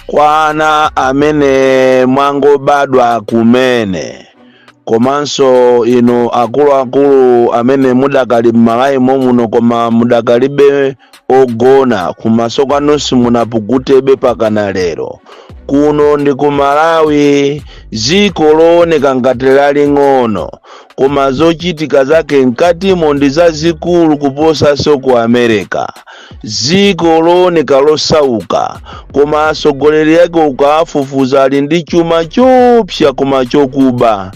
kwa ana amene mwangobadwa kumene komanso inu akuluakulu amene mudakali m'malawi momuno koma mudakalibe ogona kumaso kwanu simunapukutebe pakana lero kuno ndi ku malawi dziko looneka ngati laling'ono koma zochitika zake mkatimo ndi zazikulu kuposanso ku america dziko looneka losauka koma atsogoleri ake ukawafufuza ali ndi chuma chopsa koma chokuba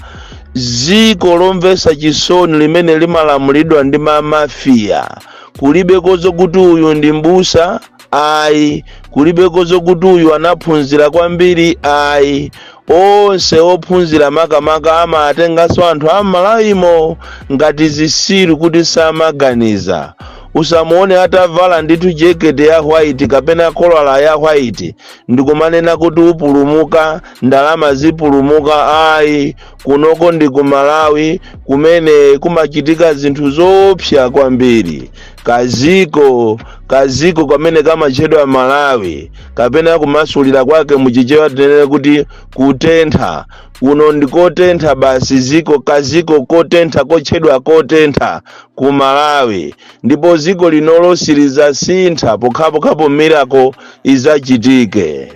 dziko lomvetsa chisoni limene limalamulidwa ndi mamafiya kulibeko zokuti uyu ndi mbusa ayi kulibeko zokuti uyu anaphunzira kwambiri ayi onse ophunzira makamaka amatenganso anthu a m'malawimo ngati zisiru kuti samaganiza usamuone atavala ndithu jekete ya white kapena kolala ya white ndikumanena kuti upulumuka ndalama zipulumuka ayi kunoko ndi ku malawi kumene kumachitika zinthu zoopsa kwambiri kaziko kaziko kamene kamatchedwa malawi kapena kumasulira kwake muchichewa tinene kuti kutentha kuno ndi kotentha basi ziko kaziko kotentha kotchedwa kotentha ku malawi ndipo ziko linolo silizasintha pokhapokhapo miracle izachitike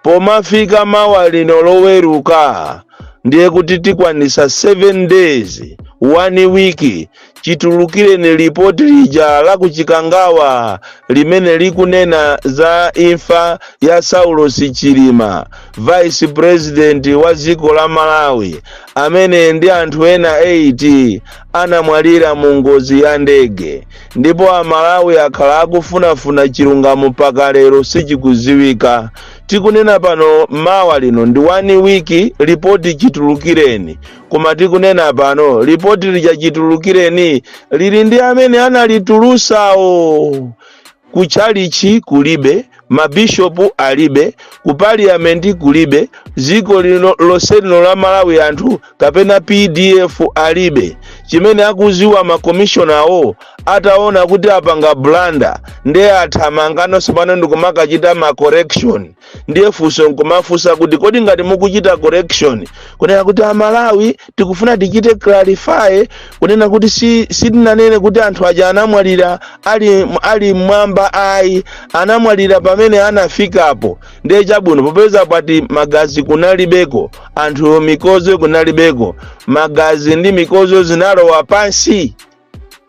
Pomafika mawa lino loweruka ndiye kuti tikwanisa 7 days, 1 week, chitulukireni report lija la ku Chikangawa limene likunena za imfa ya Saulos Chilima, Vice President wa dziko la Malawi amene ndi anthu ena 8 anamwalira mu ngozi ya ndege ndipo amalawi akhala akufunafuna chilungamo mpaka lero sichikuziwika tikunena pano mawa lino ndi 1 week lipoti chitulukireni koma tikunena pano lipoti lija chitulukireni lili ndi amene analitulusawo Ku tchalitchi kulibe, mabishopu alibe, ku parliament kulibe, dziko lino lonse lino la Malawi anthu kapena pdf alibe. Chimene akudziwa ma commissioner wo ataona kuti apanga blunder nde athamangano tsopano ndikumakachita ma correction. ndiye funso nkumafunsa kuti kodi ngati mukuchita correction kunena kuti amalawi tikufuna tichite clarify kunena kuti si sitinanene kuti anthu aja anamwalira ali ali mmwamba ayi anamwalira pamene anafikapo ndiye chabwino popeza pati magazi kunalibeko anthu mikozo kunalibeko magazi ndi mikozo zinalowa pansi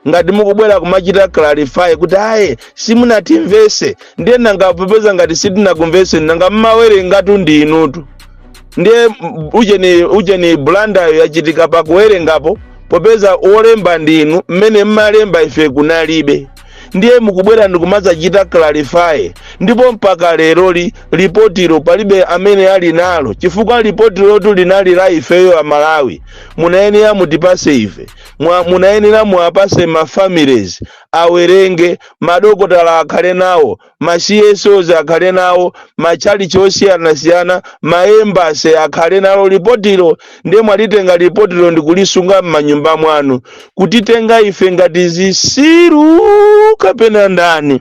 ngati mukubwera kumachita clarify kuti ayi simunatimvese ndiye nanga popeza ngati sitinakumvese nanga mmawerengatu ndi inutu ndiye m- ujeni ujeni blandayo yachitika pakuwerengapo popeza wolemba ndi inu mmene mmalemba ife kunalibe ndiye mukubwera ndikumadzachita clarify ndipo mpaka leroli lipotilo palibe amene ali nalo chifukwa lipotilo tu linali la ifeyo amalawi munayenera mutipase ife Mwa, munayenera muwapase ma families awerenge, madokotala akhale nawo, ma CSOs akhale nawo, machalichi osiyanasiyana, ma embassy akhale nalo lipotilo nde mwalitenga lipotilo ndikulisunga mmanyumba mwanu kutitenga ife ngati zisiru kapena ndani?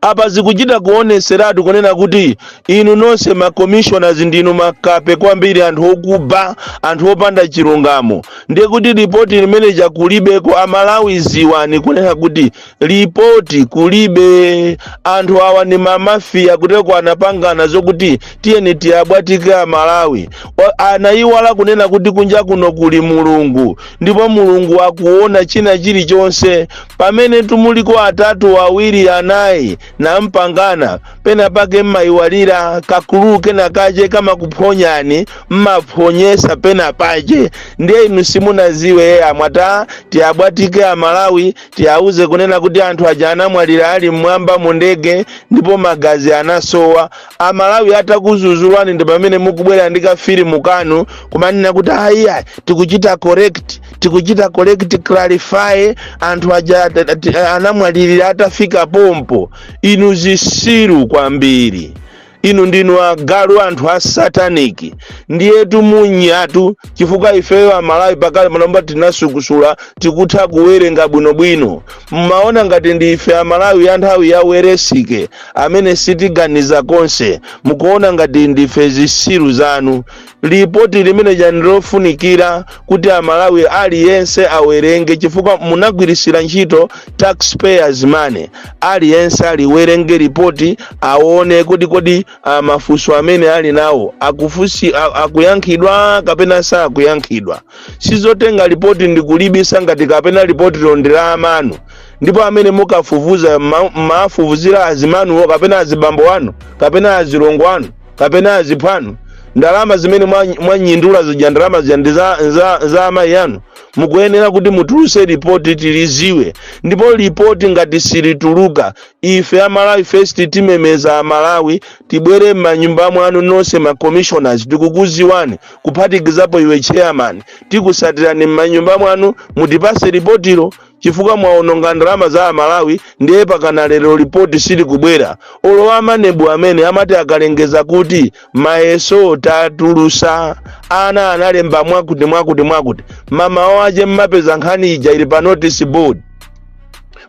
apa zikuchita kuoneseratu kunena kuti inu nonse ma commissioners ndinu makape kwambiri anthu okuba anthu opanda chilungamo ndiye kuti lipoti limene lija kulibeko amalawi ziwani kunena kuti lipoti kulibe anthu awa ni mamafiya kuteko anapangana zokuti tiyeni tiwabwatike amalawi Wa- anayiwala kunena kuti kunja kuno kuli mulungu ndipo mulungu akuona china chilichonse Pamenetu muliko atatu awiri anayi nampangana pena pake mmayiwalira kakulukulu kena kache kamakuphonyani mmaphonyesa pena pache ndiye inu simunaziwe ye amwata tiwabwatike amalawi tiwauze kunena kuti anthu aja anamwalira ali mmwamba mu ndege ndipo magazi anasowa amalawi atakuzuzulwani ndi pamene mukubwera ndi kafilimu kanu kumanena kuti ayi ayi tikuchita correct tikuchita correct clarify anthu aja at- at- anamwalirira atafika pompo inu zisiru kwambiri inu ndinu agalu anthu a sataniki ndiyetu munyatu chifukwa ifeyo amalawi pakale pano tinasukusula tikutha kuwerenga bwinobwino mmaona ngati ndi ife amalawi ya nthawi ya Welensky amene sitiganiza konse mukuona ngati ndife zisiru zanu lipoti limeneja ndi lofunikira kuti amalawi aliyense awerenge chifukwa munagwirisira ntchito taxpayers money aliyense aliwerenge lipoti aone kodi kodi ah, mafunso amene ali nawo akufusi a- akuyankhidwa kapena sakuyankhidwa sizotenga lipoti ndikulibisa ngati kapena lipoti lo ndi la amanu ndipo amene mukafufuza ma- mafufuzira azimanuwo kapena azibambo anu kapena azilongo anu kapena aziphanu ndalama zimene mwa- mwanyindula zija ndalama zija ndi za, za, za amayi anu mukuyenera kuti mutuluse lipoti tiliziwe ndipo lipoti ngati silituluka ife amalawi first timemeza amalawi tibwere m'manyumba mwanu nonse ma commissioners tikukuziwani kuphatikizapo iwe chairman tikusatirani m'manyumba mwanu mutipase lipotilo chifukwa mwaononga ndalama za amalawi ndiye pakana lero lipoti silikubwera olo a MANEB amene amati akalengeza kuti mayeso tatulusa ana analemba mwakuti mwakuti mwakuti mamawo ache mmapeza nkhani ija ili pa notice board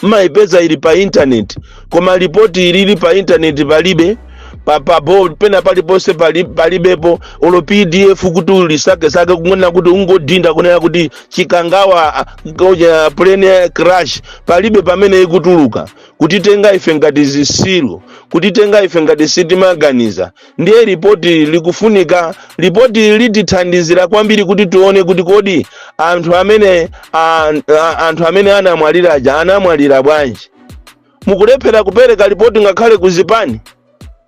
mmayipeza ili pa intaneti koma lipoti ilili pa intaneti palibe pa, pa board pena paliponse pali- palibepo olo pdf kuti ulisakesake kungoona kuti ungodinda kunena kuti chikangawa Ngoja plane crash palibe pamene ikutuluka kutitenga ife ngati zisiru kutitenga ife ngati sitimaganiza ndiye ripoti likufunika ripoti litithandizira kwambiri kuti tione kuti kodi anthu amene a, a, anthu amene anamwalira aja anamwalira bwanji mukulephera kupereka ripoti ngakhale ku zipani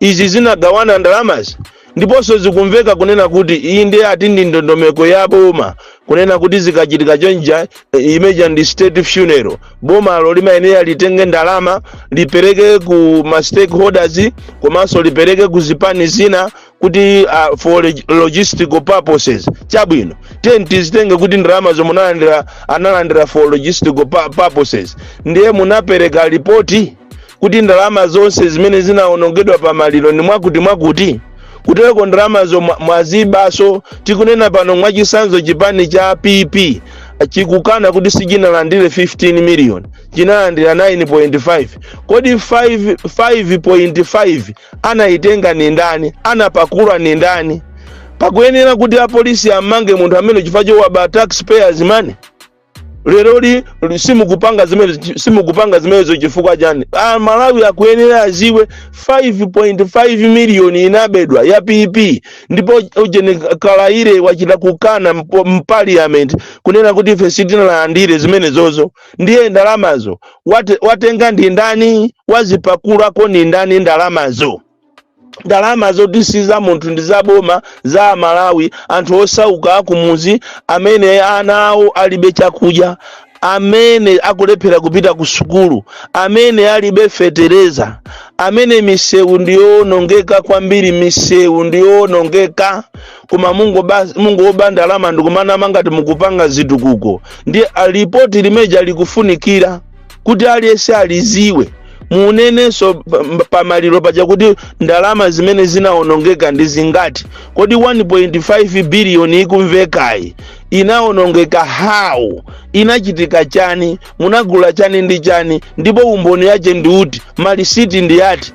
izi zinagawana ndalamazi ndiponso zikumveka kunena kuti iyi ndiye ati ndi ndondomeko ya boma kunena kuti zikachitika chonja eh, imeja ndi state funeral bomalo limayenera litenge ndalama lipereke ku ma stakeholders komanso lipereke ku zipani zina kuti uh, for log- logistical purposes chabwino ti- tizitenge kuti ndalama zomwe munalandira analandira for logistical pu- purposes ndiye munapereka lipoti kuti ndalama zonse zimene zinawonongedwa pa maliro ndi mwakuti mwakuti kutereko ndalamazo mwa- mwazibaso tikunena pano mwachisanzo chipani cha pp chikukana kuti sichinalandire 15 million chinalandira 9.5 kodi 5.5 anayitenga ni ndani anapakula ni ndani pakuyenera kuti apolisi amange munthu amene chifukwa chowaba taxpayers money leroli simukupanga zimene simukupanga zimenezo chifukwa chani amalawi akuyenera aziwe 5.5 miliyoni inabedwa ya pp ndipo ujeni kaliati wachita kukana mpo- mpaliyamenti kunena kuti ife sitinalandire zimenezozo ndiye ndalamazo wate, watenga ndi ndani wazipakulako ndi ndani ndalamazo ndalama zoti si za munthu ndi za boma za amalawi anthu osauka akumuzi amene ana awo alibe chakudya amene akulephera kupita ku sukulu amene alibe fetereza amene misewu ndiyoonongeka kwambiri misewu ndiyoonongeka koma mungoba- mungoba ndalama ndikumanamiza ngati mukupanga zitukuko ndiye a- lipoti limeja likufunikira kuti aliyense aliziwe munenenso pa- pa- pamaliro paja kuti ndalama zimene zinaonongeka ndi zingati kodi 1.5 biliyoni ikumvekayi inaonongeka how inachitika chani munagula chani ndi chani ndipo umboni wache ndi uti malisiti ndi ati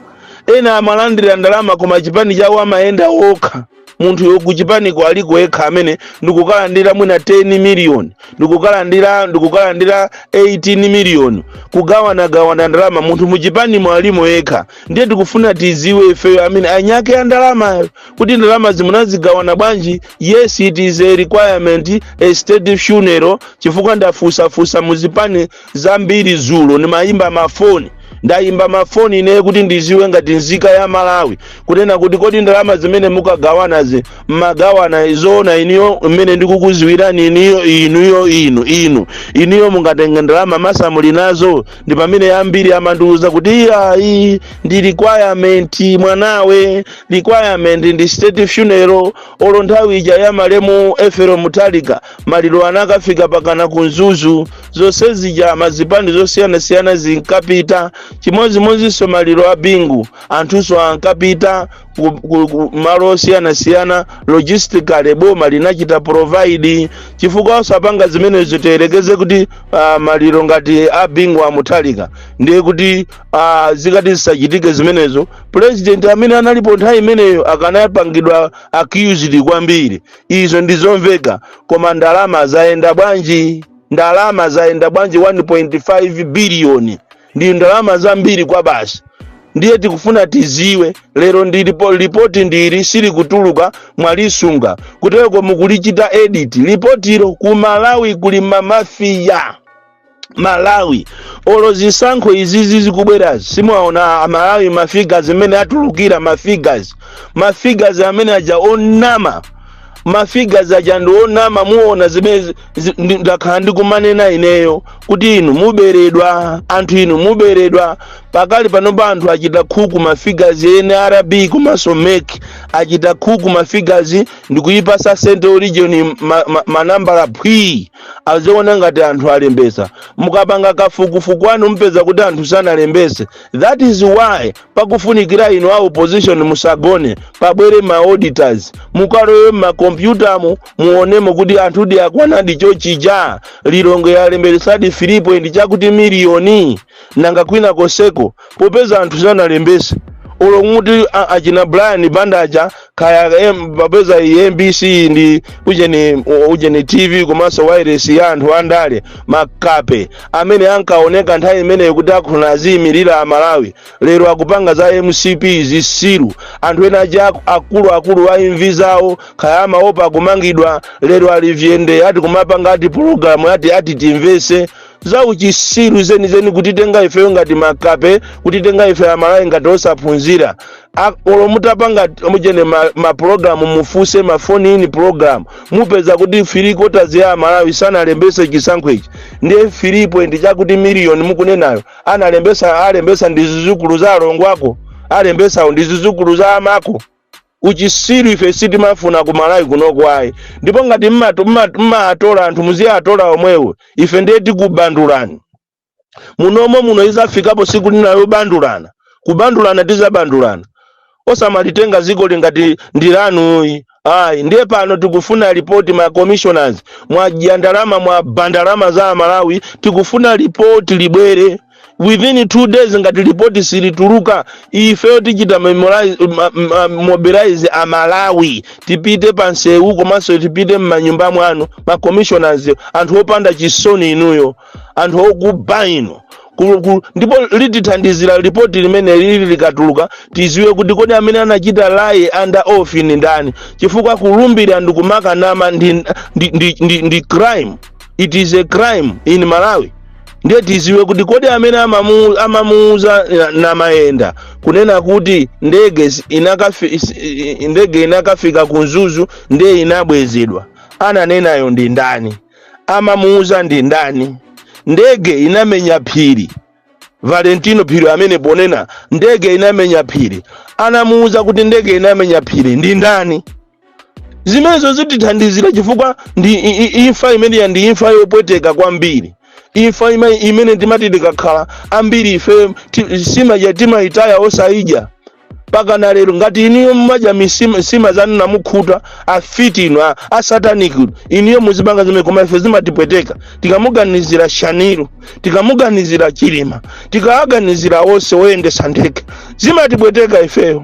ena amalandira ndalama koma chipani chawo amayenda okha munthuyo kuchipaniko aliko yekha amene ndikukalandira mwina 10 miliyoni ndikukalandira ndikukalandira 18 miliyoni kugawanagawana ndalama munthu muchipanimo alimo yekha ndiye tikufuna tiziwe ifeyo amene anyake ya ndalamayo kuti ndalama zimenezi munagawana bwanji yes it is a requirement a state funeral chifukwa ndafusafusa muzipani zambiri zulo ndimayimba mafoni ndayimba mafoni ineyo kuti ndiziwe ngati nzika ya malawi kunena kuti kodi ndalama zimene mukugawanazi mmagawana zoona inuyo mmene ndikukuziwirani iniyo inuyo inu inu inuyo mungatenge ndalama ma family nazo ndi pamene ambiri amandiuza kuti iyayi ndi requirement mwanawe requirement ndi state funeral olo nthawi ija ya malemu Ethel Mutharika maliro anakafika mpakana ku mzuzu zonse zija mazipani osiyanasiyana zinkapita chimodzimodzinso maliro a bingu anthunso ankapita ku- ku- ku malo osiyanasiyana logistically boma linachita provide chifukwa osapanga zimenezo tiyerekeze kuti uh, maliro ngati a bingu wa mutharika ndiye kuti uh, zikati zisachitike zimenezo president amene analipo nthawi imeneyo akanapangidwa accused kwambiri Izo ndi zomveka, koma ndalama zayenda bwanji? Ndalama zayenda bwanji 1.5 biliyoni? Ndi ndalama zambiri kwabasi. Ndiye tikufuna tiziwe lero ndi lipo- lipoti ndi ili silikutuluka mwalisunga kutereko mukulichita edit lipotilo ku Malawi kuli mamafiya malawi olo zisankho izizi zikubwerazi simuwaona amalawi mafigas mmene atulukira mafigas mafigas amene aja onama mafigas aja ndi onama muona zimene zi- zi- ndi- ndakhala ndikumanena ineyo kuti inu muberedwa anthu inu muberedwa pakali panopa anthu achita khuku mafigas nrb komanso mek achita khuku mafigas ndikuyipasa central region ma, ma, manambala phwii azioneka ngati anthu alembesa mukapanga kafukufuku wanu mupeza kuti anthu sanalembese that is why pakufunikira inu a opposition musagone pabwere ma auditors mukalowe mmakompyutamu muonemo kuti anthudi akwanadi chochija lilongwe yalembesadi 3 point chakuti miliyoni nanga kwina konseko popeza anthu sanalembese olo muti a- achina brian bandaja kaya em- popeza iyi mbc ndi ujeni ujeni tv komanso wireless ya anthu andale makape amene ankaoneka nthawi imeneyo kuti akhala aziyimira amalawi lero akupanga za mcp zisiru anthu ena aja aku- akuluakulu a imvi zawo kaya amaopa kumangidwa lero ali vyende ati kumapanga ati pologalamu ati ati timvetse za uchisiru zenizeni kutitenga ifeyo ngati makape kutitenga ife amalawi ngati osaphunzira A- olo mutapanga mujene ma- mapulogalamu mufuse ma phone in pulogalamu mupeza kuti three quarters ya amalawi sanalembese chisankho ichi ndiye 3 point chakuti miliyoni mukunenayo analembesa alembesa ndi zizukulu za alongo ako alembesawo ndi zizukulu za amako uchitsiru ife sitimafuna ku malawi kunoko ayi ndipo ngati mmato- mma- mmaatola anthu muziatola omwewo ife ndiye tikubandulani munomo muno izafikapo siku lina yobandulana kubandulana tizabandulana osamalitenga ziko ili ngati ndi lanu ayi ndiye pano tikufuna ripoti ma commissioners mwadya ndalama mwaba ndalama za amalawi tikufuna ripoti libwere within two days ngati lipoti silituluka ifeyo tichita memorize- ma- ma- mobilize amalawi tipite pa nsewu komanso tipite m'manyumba mwanu ma commissioners anthu opanda chisoni inuyo anthu okuba inu Ku- ku- ndipo litithandizira lipoti limeneli likatuluka tiziwe kuti kodi amene anachita lie under oath ndi ndani chifukwa kulumbira ndikumakanama ndi, ndi, ndi, ndi, ndi crime it is a crime in malawi ndiye tiziwe kuti kodi amene amamu- amamuuza na- namayenda kunena kuti ndege zi- inakafi, is- i- i- ndege inakafika ku mzuzu ndiye inabwezedwa ananenayo ndi ndani amamuuza ndi ndani ndege inamenya phiri valentino phiri amene pano anena ndege inamenya phiri anamuuza kuti ndege inamenya phiri ndi ndani zimenezo zitithandizira chifukwa ndi i- i- imfa imeneyi ndi imfa yopweteka kwambiri imfa ima- imene timati tikakhala ambiri ife ti- sima timayitaya osayidya mpaka na lero ngati inuyo mumadya misima sima zanu namukhuta afiti inu a- asataniki inu inuyo muzipanga zimene koma ife zimatipweteka tikamuganizira shanil tikamuganizira chilima tikawaganizira onse oyendesa ndege zimatipweteka ifeyo